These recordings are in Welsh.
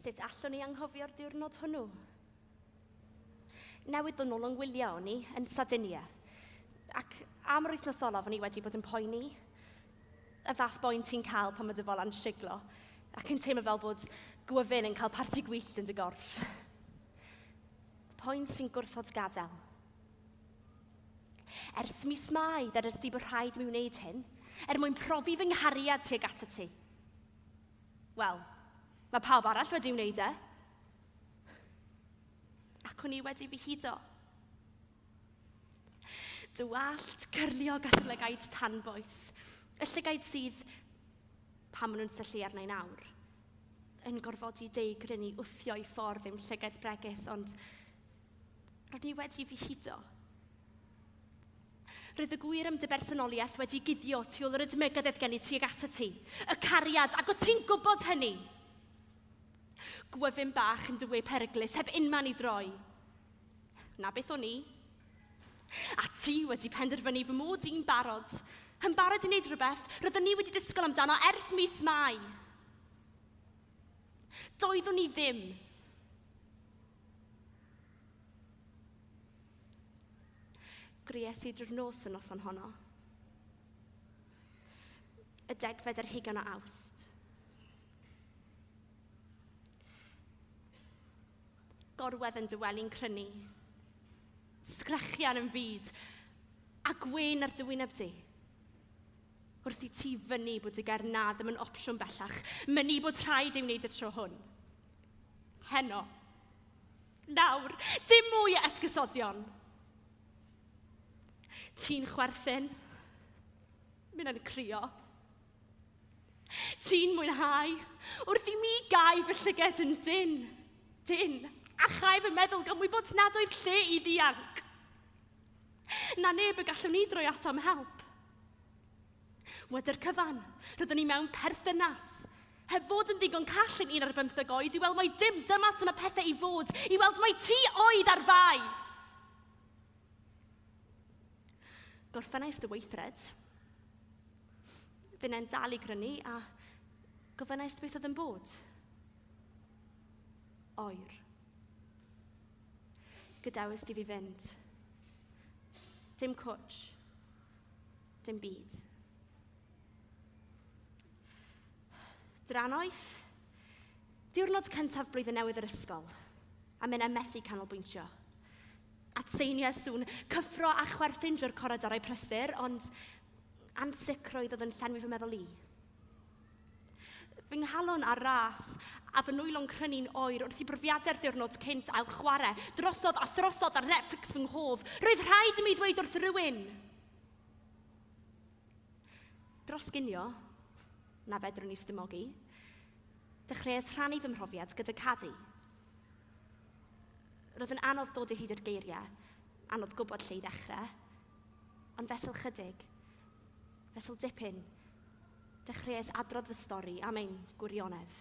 Sut allwn ni anghofio'r diwrnod hwnnw? Newid yn ôl yng ngwylio o'n i yn Sardinia. Ac am yr wythnos olaf o'n i wedi bod yn poeni. Y fath boen ti'n cael pan mae dy folan siglo ac yn teimlo fel bod gwyfyn yn cael parti gwyllt yn dy gorff. Poen sy'n gwrthod gadael. Ers mis Mai, ddedais di bod rhaid mi wneud hyn, er mwyn profi fy nghariad tuag at y ti. Wel, mae pawb arall wedi wneud e. Ac o'n i wedi fy hudo. Dywallt, cyrlio gatholegaid tanboeth. Y llygaid sydd, pan maen nhw'n syllu arna i'n awr, yn gorfodi deigryn i wthio i ffordd i'm llygaid bregus, ond Ro'n i wedi fy hudo. Roedd y gwir am dy bersonoliaeth wedi guddio tu ôl yr ydmygedd oedd gen i tuag at ti. Y cariad, ac o ti'n gwybod hynny? Gwyfyn bach yn dy we peryglus, heb unman i droi. Na beth o'n i. A ti wedi penderfynu fy mod i'n barod. Yn barod i wneud rhywbeth, roeddwn ni wedi disgwyl amdano ers mis Mai. Doeddwn ni ddim. Gries i drwy'r nos y noson honno. Y degfed ar hugen o awst. Gorwedd yn dyweli'n crynu. Sgrechian yn fyd. A gwyn ar dywyneb di. Wrth i ti fyny bod y ger na ddim yn opsiwn bellach, mynu bod rhaid ei wneud y tro hwn. Heno. Nawr, dim mwy o esgusodion. Ti'n chwerthin. Minnau'n crio. Ti'n mwynhau. Wrth i mi gau fy llyged yn dyn. Dyn. A chau fy meddwl gan wybod nad oedd lle i ddianc. Na neb y gallwn ni droi ato am help. Wedi'r cyfan, rydyn ni mewn perthynas. Heb fod yn ddigon call yn un ar bymtheg oed i weld mai dim dyma sy'n y pethau i fod, i weld mai ti oedd ar fai. Gorffennais dy weithred. Fy nen dal i grynu a gofynnais beth oedd yn bod. Oer. Gydawys di fi fynd. Dim cwtch. Dim byd. Drannoeth, diwrnod cyntaf blwyddyn newydd yr ysgol, a minnau methu canolbwyntio. Atseiniau sŵn, cyffro a chwerthin drwy'r coridorau prysur, ond ansicrwydd oedd yn llenwi fy meddwl i. Fy nghalon ar ras, a fy nwylo'n crynu'n oer wrth i brofiadau'r diwrnod cynt ail chwarae drosodd a throsodd ar Netflix fy nghof. Roedd rhaid i mi ddweud wrth rywun! Dros ginio, na fedrwn i stymogi, dechreuais rhannu fy mhrofiad gyda Cadi. Roedd yn anodd dod o hyd i'r geiriau, anodd gwybod lle i ddechrau, Ond fesul 'chydig, fesul dipyn, dechreuais adrodd fy stori am ein gwirionedd.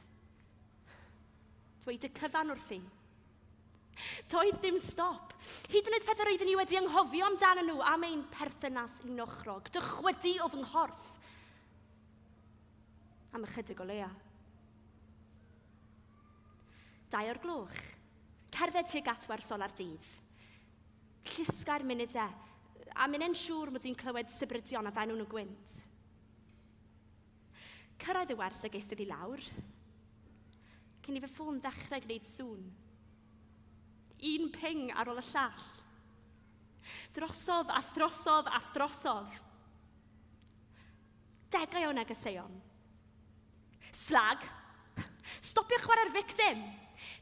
Dweud y cyfan wrthi. Doedd dim stop. Hyd yn oed pethau roeddwn i wedi ynghofio amdanyn nhw am ein perthynas un ochrog, dychwydu o fy nghorff. Am ychydig o leia. Dau o'r gloch. Cerdded tuag at wersolar dydd. Llusgai'r munudau, a minnau'n siŵr mod i'n clywed sibrydion a fenwn yn gwynt. Cyrraedd y wers a geisted i lawr, cyn i fy ffôn ddechrau gwneud sŵn. Un ping ar ôl y llall. Drosodd a throsodd a throsodd. Degau o negeseuon. Slag. Stopia chwarae'r victim.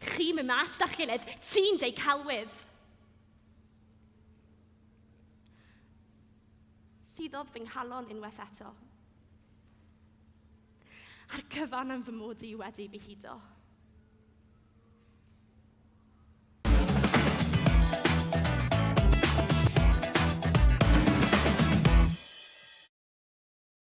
Chi'n mynd mas da'ch gilydd, ti'n deu celwydd. Suddodd fy nghalon unwaith eto. A'r cyfan am fy mod i wedi fy hudo.